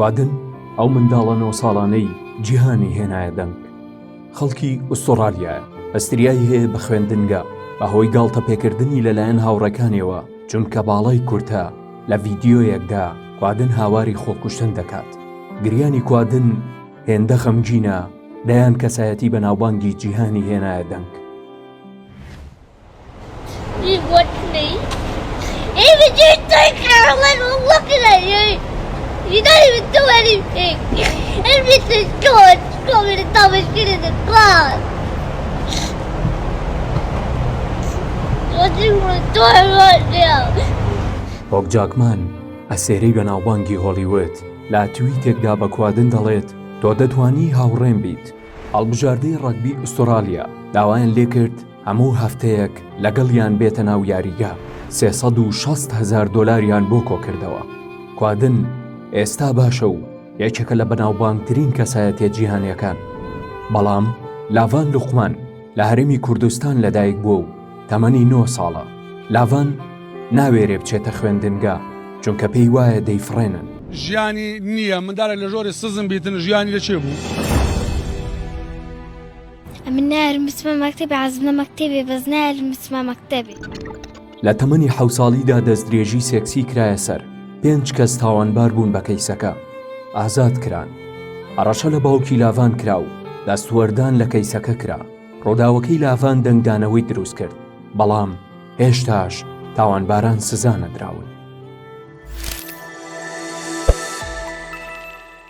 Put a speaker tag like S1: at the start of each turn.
S1: کوادن ئەو منداڵە نۆ ساڵانەی جیهانی هێنایە دەنگ خەڵکی ئوستۆڕالیایە ئەستریایی هەیە بە خوێندنگە بەهۆی گاڵتە پێکردنی لەلایەن هاوڕەکانیەوە چونکە باڵای کورتە لە ڤیددیۆیەکدا کوادن هاواری خۆکوشتن دەکات گریانی کوادن هێندە خەمگینە دەیان کەسایەتی بەناوبانگی جیهانی هێنایە دەنگ
S2: هۆگ
S1: جاکمان، ئەستێرەی بەناوبانگی هۆڵیوود، لە تویتێکدا بە کوادن دەڵێت، تۆ دەتوانی هاوڕێم بیت. هەڵبژاردەی ڕەگبی ئوستوڕاڵیا داوایان لێکرد، هەموو هەفتەیەک لەگەڵیان بێتە ناو یاریگا سێ سەد و شەست هەزار دۆلاریان بۆ کۆکردەوە. کوادن ئێستا باشە و یەکێکە لە بەناوبانگترین کەسایەتیە جیهانیەکان. بەڵام لاڤان لوقمان لە هەرێمی کوردستان لەدایک بووە و تەمەنی نۆ ساڵە. لاڤان ناوێرێ بچێتە خوێندنگا چونکە پێی وایە دەیفڕێنن. ژیانی
S3: نییە، مندالێک لە ژۆری سزم بیتن ژیانی لە چێ بوو؟
S2: من نارم بچمە مەکتەبی عەزمە مەکتەبێ بەس نارم بچمە مەکتەبێ لە تەمەنی
S1: حەو ساڵیدا دەستدرێژی سێکسی کرایە سەر پێنج کەس تاوانبار بوون بە کەیسەکە ئازاد کران هەڕەشە لە باوکی لاڤان کرا و دەستوەردان لە کەیسەکە کرا ڕووداوەکەی لاڤان دەنگدانەوەی دروست کرد بەڵام هێشتاش تاوانباران سزا نەدراون